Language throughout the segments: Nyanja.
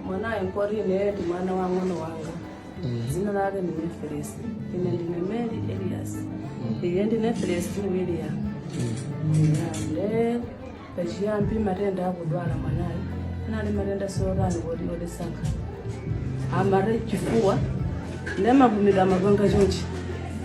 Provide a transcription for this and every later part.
mwanayo nkuti ineyo ndi mwana wa mng'ono wanga dzina lake ndi neferesi ine ndine mary elias iye ndi neferesi william nde pachiyambi matenda akudwala mwanayo anali matenda sotani kodi odesankha amati chifuwa nde amapumira amapanga chonchi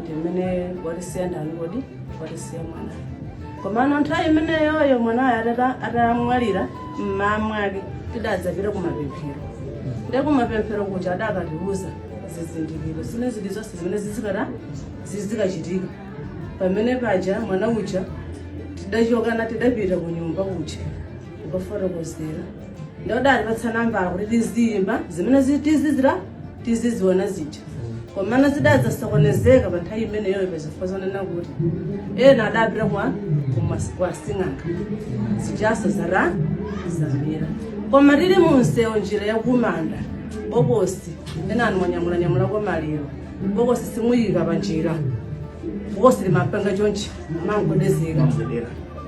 ndi mmene watisiya ndani kodi watisiya mwanayo komano nthawi imeneyoyo mwanayo atata- atamwalira mmaa mwake tidadzapita kumapemphero nde kumapemphero kuja adakatiuza zizindikiro zina zilizonse zimene zizikata zizikachitika pamene paja mwana uja tidachokana tidapita ku nyumba kuja kufotokozera nde adatipatsa nambala kuti tiziyimba zimene zi- tizizira tiziziona zija komana zidadzasokonezeka pa nthawi imeneyo pazifukwa zonena kuti ena adapita kwa kumas- kwa sing'anga zijaso zara zamira koma tili munsewu njira yakumanda bokosi enanu mwanyamulanyamula kwa maliro bokosi simuyika pa njira bokosi limapanga chonchi mangodezeka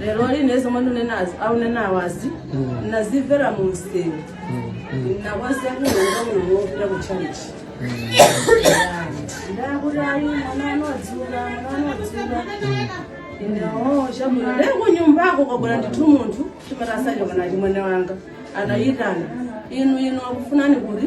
lero lino zomwe ndinenazi akunena awazi nazimvera mu mseu nakwanisa kuonga mulungu wopita ku chalichi ndakuti ayi mwana anadzuka mwana anadzuka indawo chabwino lero kunyumbako kwabwera ndithu munthu timati asachoka na achimwene wanga anayitana inu inu akufunani kuti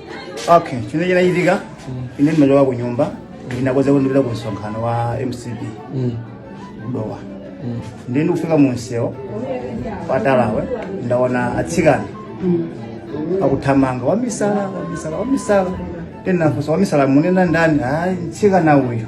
okay chimene chinachitika ine ndimachoka ku nyumba ndinakonza kuti ndipita ku msonkhano wa mcp ku dowa ndiye ndikufika mu msewu patalawe ndaona atsikana akuthamanga wamisala wamisala wamisala tinafunsa wamisala munena ndani ayi mtsikana uyu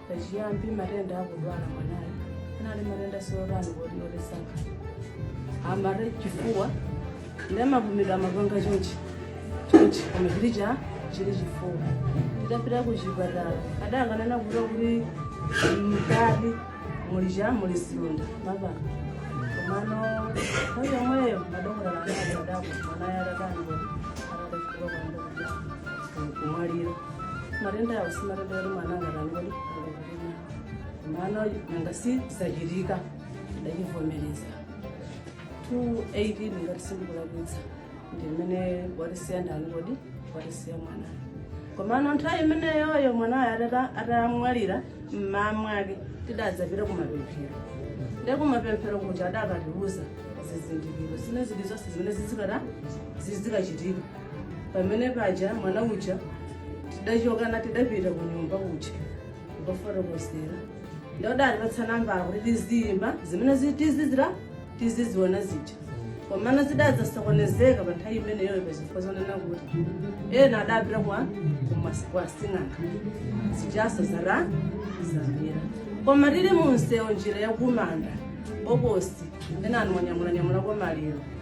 pachiyambi matenda akudwala mwanayo anali matenda sotani kodi otisaka amati chifuwa nde amapumira amapanga chonchi chonchi koma chili cha chili chifuwa titapita ku chipatala adangonena kuta kuti mkati muli cha muli zilonda mmapapo komano nthawi yomweyo madokotala anali adaku mwanayo atatani kodi nkumwalira matendawo si matenda oti mwana angatani kodi angakupina komano nanga si zachitika ndachivomereza 2018 ngati sindikulakwitsa ndi mmene watisiya ndani kodi watisiya mwanayo komano nthawi imeneyoyo mwanayo atata- atamwalira mmaa mwake tidadzapita kumapemphero nde kumapemphero kuja adakatiuza zizindikiro zina zilizonse zimene zizikata zizikachitika pamene paja mwana uja tidachokana tidapita ku nyumba kuja kukafotokozera nde adatipatsa nambala kuti tiziyimba zimene zi- tizizira tiziziona zija komano zidadzasokonezeka pa nthawi imeneyoyo pazifukwa zonena kuti ena adapita kwa kumas- kwa sing'anga zijanso zata zamira koma tili munsewu njira yakumanda bokosi ena anwanyamulanyamula kwa maliro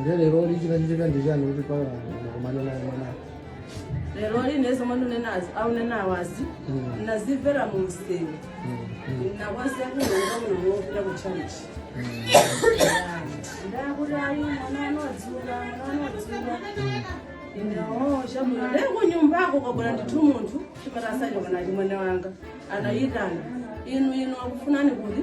nde lero lichinachitika ndi chani kuti mpaka mukumane naye mwana lero ine zomwe ndinenazi akunenawazi Mm. ndinazimvera mu msewu ndinakwasiya kunonga muno wopita ku chalichi ndakuti ayi mwana anodziwa mwana anodziwa ndinaoo chabwino lero ku nyumbako kwabwera ndithu munthu chimatasacho kana chimwene wanga anayitana inu inu akufunani kuti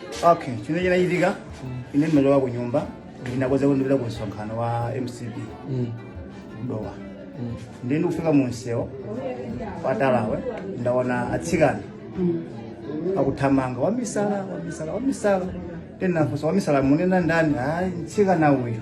okay chimene chinachitika ine ndimachoka ku nyumba ndinakonza kuti ndipita ku msonkhano wa mcp dowa ndiye ndikufika mu msewu watalawu ndaona atsikana akuthamanga wamisala wamisala wamisala ndinafunsa wamisala munena ndani ayi mtsikana uyu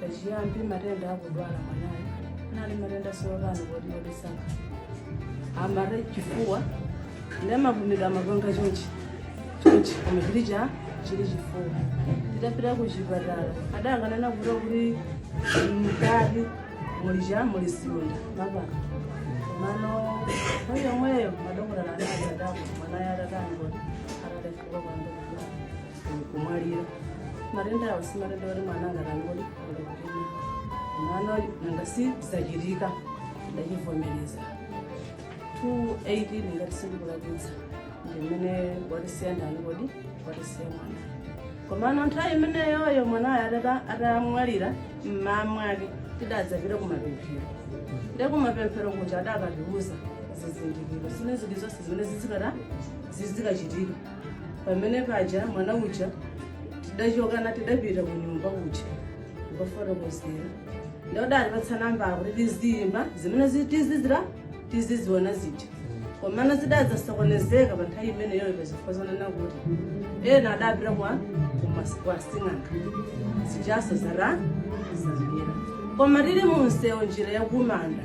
pachiyambi matenda akudwala mwanayo anali matenda sopano kodi odisaka amati chifuwa ndi amavumidwa amapanga chonchi chonchi koma chili cha chili chifuwa titapita ku chipatala adakanena kuta kuti mkati muli cha muli siunda papa mano nthawi yomweyo madokotala anali adako mwanayo atatani kodi atalefuka kwambiri kumwalira matenda awo si matenda oti mwana angatani kodi alikutina mwana nanga si zachitika ndachivomereza 2018 ngati sindikulakwitsa ndimene watisiya ndani kodi watisiya mwana komano nthawi imeneyoyo mwanayo atata- atamwalira mmaa mwake tidadzapita kumapemphero nde kumapemphero kuja adakatiuza zizindikiro zimene zili zonse zimene zizikata zizikachitika Pamene paja mwana uja tidachoka na tidapita ku nyumba kuja kukafotokozera nde adatipatsa nambala kuti tiziyimba zimene zi- tizizira tiziziona zija komano zidadzasokonezeka pa nthawi imeneyoyo pa zifukwa zonena kuti ena adapita kwa kumas- kwa sing'anga zijanso zata zamira koma tili mu msewu njira yakumanda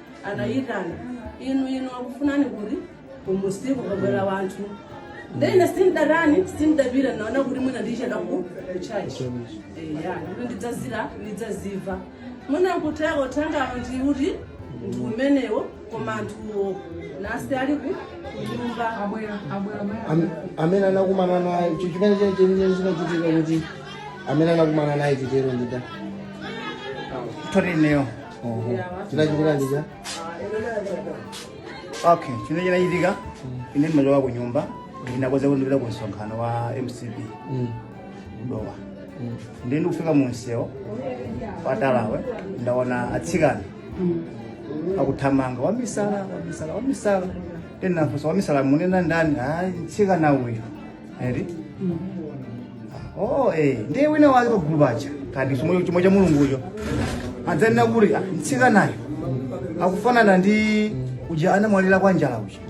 anayitana inu inu akufunani kuti kumusiku kwabwera wanthu nde ine sindatani sindapita naona kuti mwina ndicheda ku kuchachi eya kuti ndidzazira ndidzadziwa mwina kuteko tangano ndiuti ndi umenewo koma anthuwo nasi ali ku kunyumba abwera abwera maya Am- amene anakumana naye icho chimene chene chenicheni chinachitika kuti amene anakumana naye chitero ndida Tori neo. chinachitika ndija okay chino chinachitika ine ndimachoka ku nyumba ndinakonza kuti ndipita ku msonkhano wa mcp ku Dowa ndi ndikufika mu msewu wa talawu ndaona atsikana akuthamanga wamisala wamisala wamisala ndinafunsa wamisala munena ndani ayi mtsikana uyu eti oh eh ndiye wina wake pagulu paja kaya ndi chomwe chomwe cha mulungucho adzanena kuti "Ah, mtsikanayo akufanana ndi uja anamwalira kwa njala uja